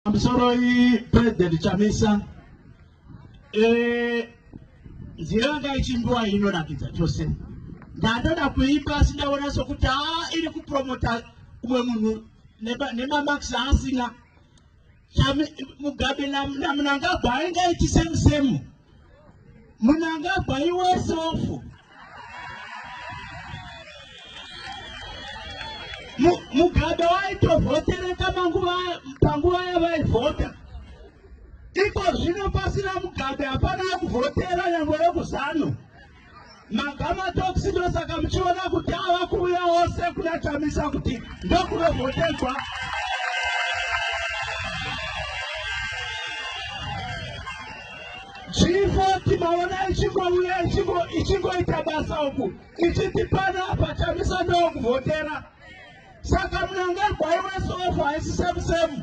Pamusoro iyi President Chamisa eh, nzira yanga ichimbiwa inorakidza chose ndandoda kuipa asi ndaona sokuti a ah, iri kupromota umwe munhu nemamax aasina mugabe namunangagwa ainge aiti same same Munangagwa iwe sofu. Mugabe waitovhotereka manguva panguva yavaivhota. Iko zvino pasina Mugabe hapana kuvhotera nyangwe vekuzano. magamatoksi ndosaka muchiona kuti ava kuuya ose kuna chamisa kuti ndokunovhotegwa chifoti maona ichingouya ichingoita basa uku ichiti pana apa chamisa ndokuvhotera saka munangagwai wesofa haisi semusemu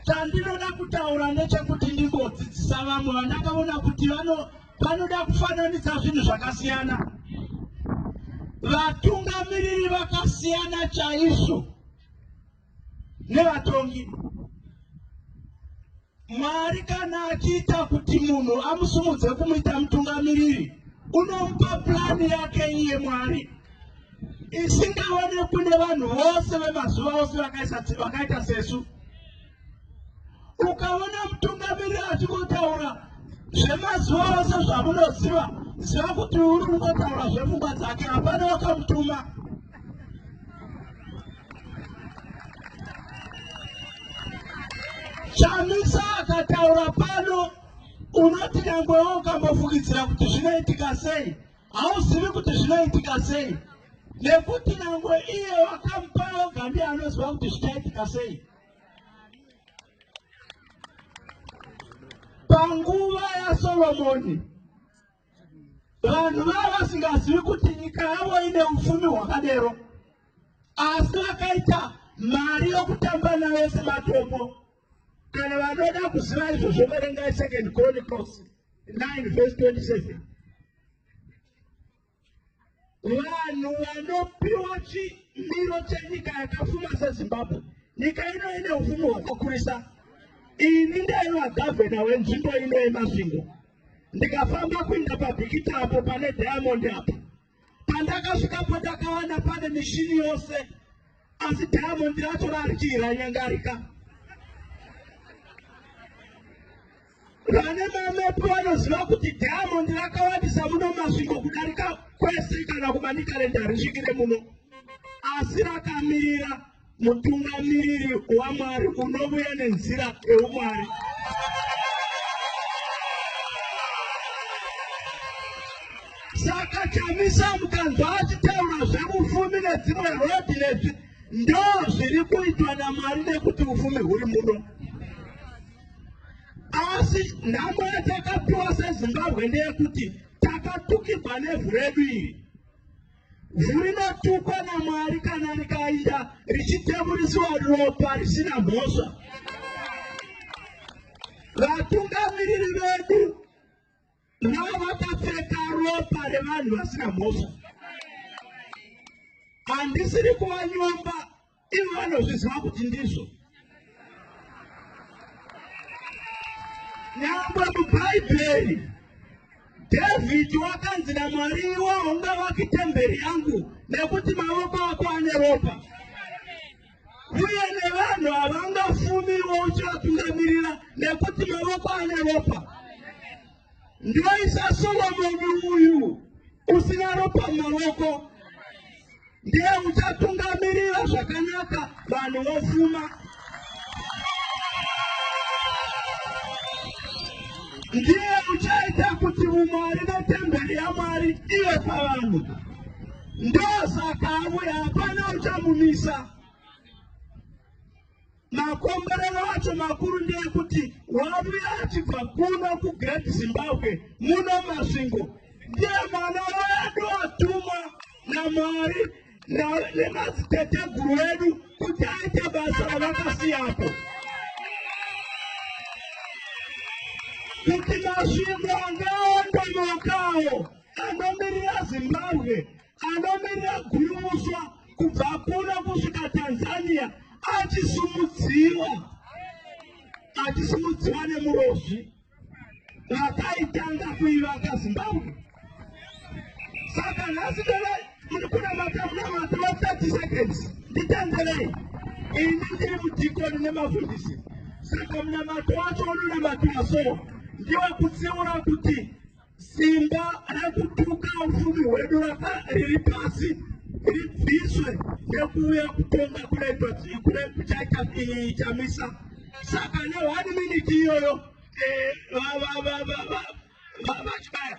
Chandinoda kutaura ndechekuti ndimbodzidzisa vamwe vandakaona kuti vano vanoda kufananidza zvinhu zvakasiyana. Vatungamiriri vakasiyana chaizvo nevatongi. Mwari kana achiita kuti munhu amusumudze kumuita mutungamiriri, unomupa purani yake iye Mwari. isingaonekwi nevanhu vose vemazuva ose vakaita sesu ukaona mutungamiriri achikotaura zvemazuva ose zvamunoziva ziva kuti uri kutotaura zvepfungwa dzake hapana wakamutuma chamisa akataura pano unoti nyangwewo ukambofungidzira kuti zvinoitika sei hauzivi kuti zvinoitika sei nekuti nyangwe iye wakamupa oga ndiye anoziva kuti zvichaitika sei panguva yasolomoni vanhu vava vasingazivi kuti nyika yavo ine upfumi hwakadero asi vakaita mari yokutamba nayo sematombo kana vanoda kuziva izvozvo verengai second chronicles 9 verse 27 vanhu vanopiwa chimiro chenyika yakafuma sezimbabwe nyika ino ine ufumi hwakakurisa ini ndaiva gavhena wenzvimbo ino yemasvingo ndikafamba kuinda pabhikita apo pane diamondi apo Pandakasvikapo ndakawana pane mishini yose, asi Diamond racho rarikii ranyangarika. Vane mamepi vanoziva kuti Diamond rakawandisa muno Masvingo kudarika kwese kana kuManicaland harisvikire muno, asi rakamirira mutungamiriri wamwari unovuya nenzira eumwari saka chamisa mukanzwa achitaura zveufumi nedzimwe rodi nezvi ndo zviri kuitwa namwari nekuti ufumi huri muno asi nhamo yatakapiwa sezimbabwe ndeyekuti takatukirwa nevhu redu iri Ivhu rinotukwa naMwari kana rikainda richitemuriswa ropa risina mhosva. Vatungamiriri vedu navo vakapfeka ropa revanhu vasina mhosva. Handisiri kuvanyomba ivo vanozviziva kuti ndizvo nyangwe mubhaibheri dhavhidhi wakanzi namwari iwo unga vaki temberi yangu nekuti mavoko ako ane ropa uye nevanhu havangafumiwo uchivatungamirira nekuti mavoko ane ropa Ndinoisa Soromoni uyu usina ropa maoko ndiye uchatungamirira zvakanaka vanhu vofuma. Ndiye uchaita kuti umwari netemberi yaMwari ive pavanhu. Ndosaka avuya hapana uchamunisa. Makomborero acho makuru ndeekuti wavuya achibva kuno kuGreat Zimbabwe muno Masvingo ndiye mwana wedu atumwa naMwari nemadziteteguru edu kuti aite basa ravakasiyapo kuti Masvingo angaondomokawo anomirira Zimbabwe anomirira gurumuswa kubva kuno kusvika tanzania achisumudziwa achisumudziwa nemurozvi vakaitanga kuivaka zimbabwe saka nhasi tona muri kunamata munamata wa 30 seconds nditanzerei ini ndiri mudhikoni nemafundisi saka munamato wacho unonamatiwa so ndiwe kutsiura kuti Simba rekutuka ufumi hwedu raka riri pasi ribviswe nekuuya kutonga kune kuchaita chamisa saka ne one minute iyoyo eh, vachibaya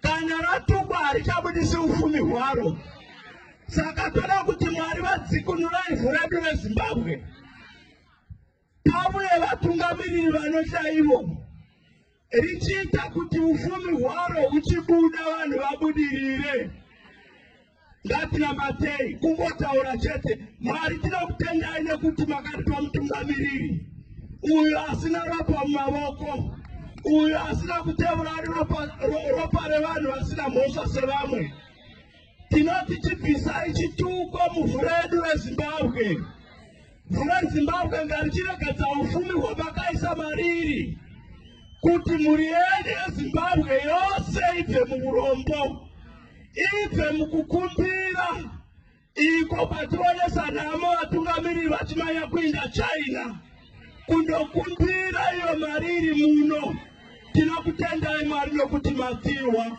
Kana ratukwa harichabudisi ufumi hwaro. Saka toda kuti Mwari vadzikunura ivhu redu reZimbabwe. Pavuye vatungamiriri vanohla ivo richiita kuti ufumi hwaro uchibuda vanhu vabudirire. ngatinamatei kungotaura chete mwari tinokutendai nekuti makatipa mutungamiriri uyo asina ropa mumavoko uyo asina kutevura ari ropa, ro, ropa revanhu vasina mhosva sevamwe tinoti chibvisai chituko muvhu redu rezimbabwe Dzimwe Zimbabwe ngarichiregadza ufumi hwamakaisa mariri kuti mhuri yedu yeZimbabwe yose ibve muurombo, ibve mukukumbira iko kwationesa nhamo vatungamiriri vachimanya kuinda China kundokumbira iyo mariri muno. Tinokutendai Mwari nokuti madziwa.